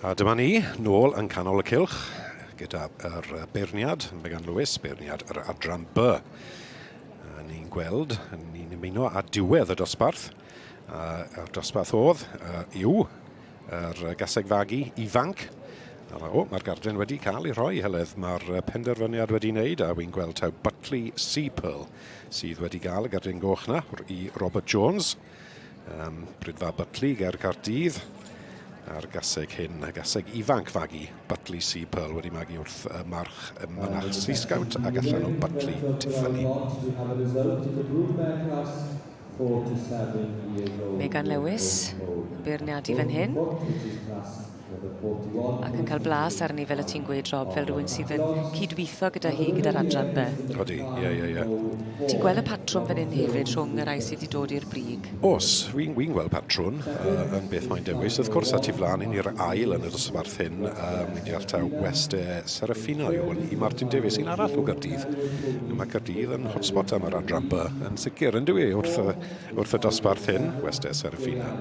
A dyma ni, nôl yn canol y cylch, gyda'r beirniad, mae gan Lewis, beirniad yr adran B. Ni'n gweld, ni'n ymuno â diwedd y dosbarth, a'r dosbarth oedd yw yr gaseg fagu ifanc. O, mae'r gardyn wedi cael ei rhoi, Heledd. Mae'r penderfyniad wedi wneud, a wy'n gweld taw Butley Sea Pearl sydd wedi cael y gardyn goch na, i Robert Jones. Um, Brydfa Butli ger Cardydd a'r gaseg hyn, a gaseg ifanc fagu Butli Sea Pearl wedi magu wrth y march y mynach Sea Scout ac allan o Butli Tiffany. Megan Lewis, beirniadu fan hyn. Ac yn cael blas arni fel y ti'n gweud Rob fel rhywun sydd yn cydweithio gyda hi gyda'r adran be? Odi, ie ie ie. Ti'n gweld y patrwm fan hyn hefyd rhwng y rhai sydd wedi dod i'r brig? Os, fi'n fi gweld patrwm uh, yn beth mae'n dewis. Wrth gwrs, at i flaen yn i'r ail yn y dosbarth hyn, um, ni'n deall taw West e Serafina yw hwn i Martin Davies, un arall o Gardydd. Mae Cardydd yn hotspot am yr adran by, yn sicr, yn dwi wrth y Wrth y dosbarth hyn, Westai Serafina,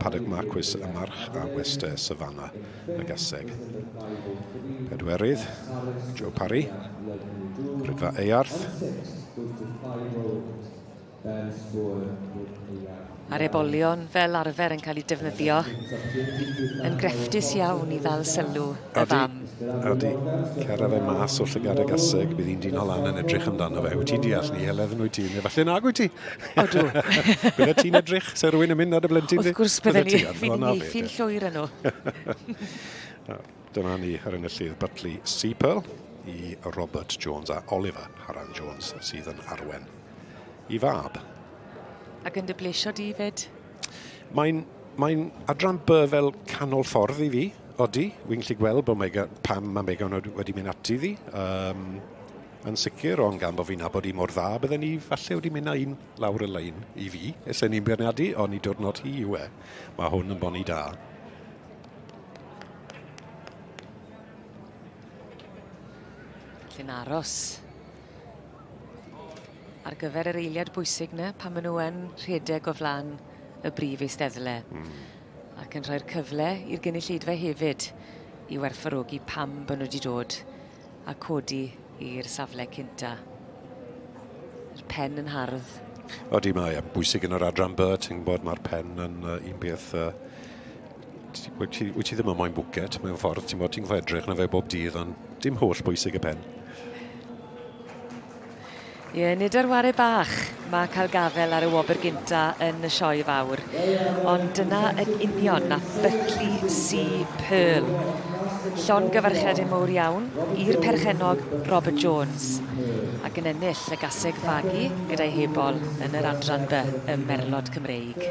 Paddock Marquis y March a Westai Savannah y Gaseg. Pedwerydd, Joe Parry, Rydfa Earth. Mae'r ebolion fel arfer yn cael eu defnyddio yn grefftus iawn i ddal sylw y fam. Ydy. Cera fe mas o'r llygad y gaseg, bydd hi'n dino lan yn edrych amdano fe. Wyt ti'n deall ni, Helen, wyt ti? Neu falle nag wyt ti? Odw. Bydde ti'n edrych, se rwy'n yn mynd ar y blentyn di? Wrth gwrs bydde ni, fi'n meithrin llwyr yn nhw. Dyna ni ar enillydd Butley Seapearl i Robert Jones a Oliver Haran Jones sydd yn arwen i fab. Ac yn dy blesio di fyd? Mae'n mae'n adran by fel canol ffordd i fi, odi. Wy'n gallu gweld bod Mega, pam mae Megan wedi mynd ati ddi. Um, yn sicr, ond gan bod fi'n abod i mor dda, bydden ni falle wedi mynd â un lawr y lein i fi. Ese ni'n byrniadu, ond i diwrnod hi yw e. Mae hwn yn boni da. Felly'n aros. ar gyfer yr eiliad bwysig 'na pan maen nhw yn rhedeg o flaen y brif eisteddle. Mm. Ac yn rhoi'r cyfle i'r gynulleidfa hefyd i werthfawrogi pam bod nhw wedi dod a codi i'r safle cynta. Yr pen yn hardd. Odi, mae yn bwysig yn yr adran by, ti'n bod mae'r pen yn uh, un beth... Uh, wyt ti, wyt ti ddim yn moyn bwcet mewn ffordd, ti'n bod ti'n edrych na fe bob dydd, ond dim holl bwysig y pen. Ie, nid ar ware bach mae cael gafael ar y wobr gynta yn y Sioe Fawr, ond dyna yn union na Buckley C. Pearl. Llon gyfarchiadau mowr iawn i'r perchennog Robert Jones, ac yn ennill y gaseg fagu gyda'i hebol yn yr Adran B ym Merlod Cymreig.